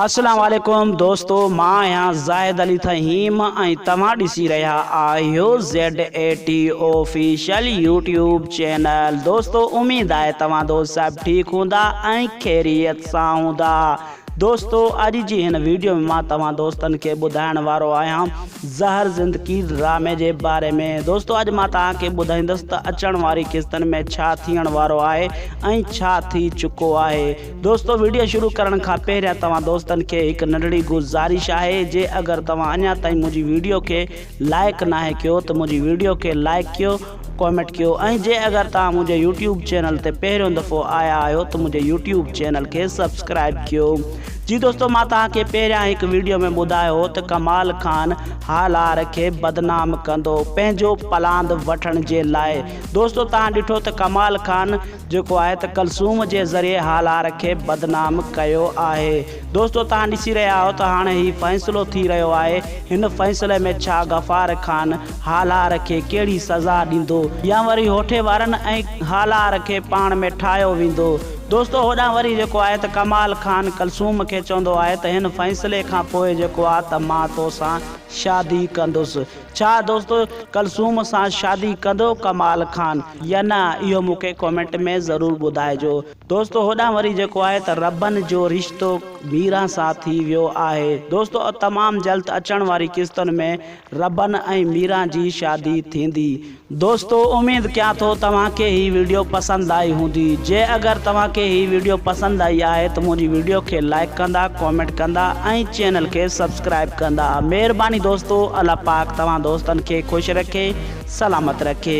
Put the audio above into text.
اسلام عليڪم دوستو مان آهيان زاهد علي فهيم ۽ توهان ڏسي رهيا آهيو Z A T official YouTube channel دوستو اميد آهي توهان دوست صاحب ٺيڪ هوندا ۽ خيريت سان هوندا دوستو اڄ جي هن ويڊيو ۾ مان توهان دوستن کي ٻڌائڻ وارو آهيان زهر زندگي ڊرامي جي باري ۾ دوستو اڄ مان توهان کي ٻڌائيندس ته اچڻ واري قسطن ۾ ڇا ٿيڻ وارو آهي ۽ ڇا ٿي چڪو آهي دوستو ويڊيو شروع ڪرڻ کان پهريان توهان دوستن کي هڪ ننڍڙي گذارش آهي جي اگر توهان اڃا تائين منهنجي ويڊيو کي لائيڪ ناهي ڪيو ته منهنجي ويڊيو کي لائيڪ ڪيو ڪومينٽ ڪيو ۽ جي اگر توهان منهنجي يوٽيوب چينل تي پهريون دفعو آيا آهيو ته منهنجي يوٽيوب چينل کي سبسڪرائيب ڪيو جي دوستو مان توهان کي پهريان هڪ ويڊيو ۾ ٻڌايو هو ته ڪمال خان هالار کي بدنام ڪندو پنهنجو پلاند وٺڻ جي لاء دوستو توهان ڏٺو ته ڪمال خان جيڪو آهي ته ڪلثوم جي ذريعي هالار کي بدنام ڪيو آهي دوستو توهان ڏسي رهيا آهيو ته هاڻي هي فيصلو ٿي رهيو آهي هن فيصلي ۾ ڇا غفار خان هالار کي ڪهڙي سزا ڏيندو يا وري هوٺي وارن ۽ هالار کي پاڻ ۾ ٺاهيو ويندو دوستو هوڏانهن وري جيڪو آهي ته ڪمال خان ڪلثوم کي چوندو آهي ته هن فيصلي کان پوء جيڪو آ ته مان توسان شادي ڪندس ڇا دوستو ڪلثوم سان شادي ڪندو ڪمال خان يا نه اهو مونکي ڪمينٽ ۾ ضرور ٻڌائجو دوستو هوڏانهن وري جيڪو آهي ته ربن جو رشتو ميران سان ٿي ويو آهي دوستو تمام جلد اچڻ واري قسطن ۾ ربن ۽ ميران جي شادي ٿيندي دوستو اميد ڪيان ٿو توهان کي هي ويڊيو پسند آئي هوندي جي اگر توهان کي هي ويڊيو پسند آئي آهي ته منهنجي ويڊيو کي لائڪ ڪندا ڪامينٽ ڪندا ۽ چينل کي سبسڪرائب ڪندا مهرباني دوستو الله پاڪ توهان دوستن کي خوش رکي سلامت رکي.